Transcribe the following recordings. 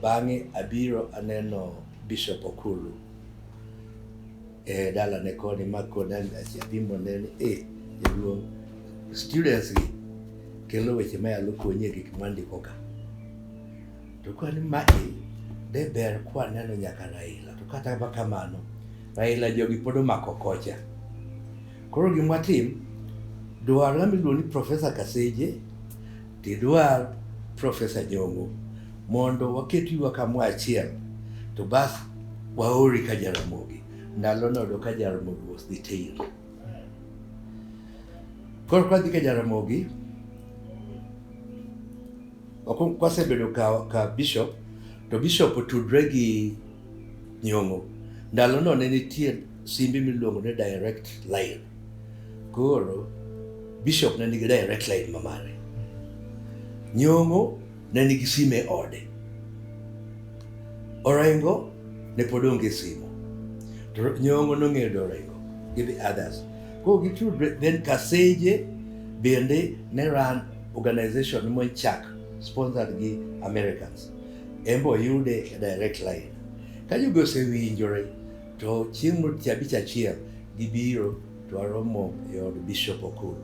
Bang'e abiro aneno Bishop Okulu e dalane koni ma koda apimo ne ni e jaduong' students gi kelo weche ma yalo konyi e gik mwandiko ka. To kwan ma e de ber kwaneno nyaka Raila to kata ma kamano Raila jogi pod omako kocha. Koro gimwatim dwarwa miluongo ni Professor Kaseje Gidwar Professor Nyong'o mondo waket ywa kamoro achiel to bas waori ka Jaramogi. Ndalo nodo ka Jaramogi was detained. Koro kwadhi ka Jaramogi kwasebedo ka, ka bishop to bishop otudre gi Nyong'o. Ndalo no ne nitie Simbi miluongo ni direct line. Koro bishop ne nigi direct line ma mare. Nyong'o ne nigi simu e ode. Orengo ne pod onge simu. To Nyong'o nong'eyo do Orengo gi the others. Koro gitudre then Kaseje bende ne ran organization mo chak sponsored gi Americans. Embo yude direct line. Ka jogo osewinjore To chieng' wuok tich abich achiel gibiro to waromo e od Bishop Okulu.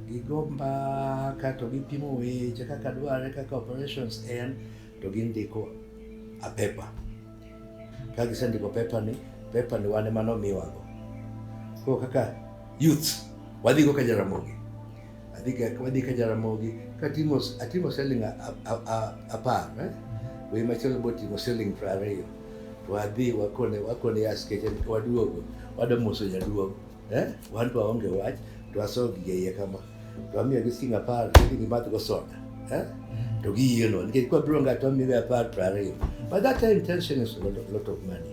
Gigo mbaka to gipimo weche kaka dwarre kaka operations en to gindiko a paper. Ka gisendiko paper ni, paper ni wan ema nomiwago. Koro kaka youth wadhigo ka Jaramogi. adhiga kama adhi ka Jaramogi katimo atimo selling apar eh? wei machielo botimo selling piero ariyo to wadhi wakone wakone askeche waduogo wada moso jaduogo eh? wan to waonge wach to aso gige iye kama to amiyo gi siling apar to gidhi madhgo soda eh? to giyieno nikech kwabiro ng'ato amiyo gi apar piero ariyo by that time tension is a lot of, lot of money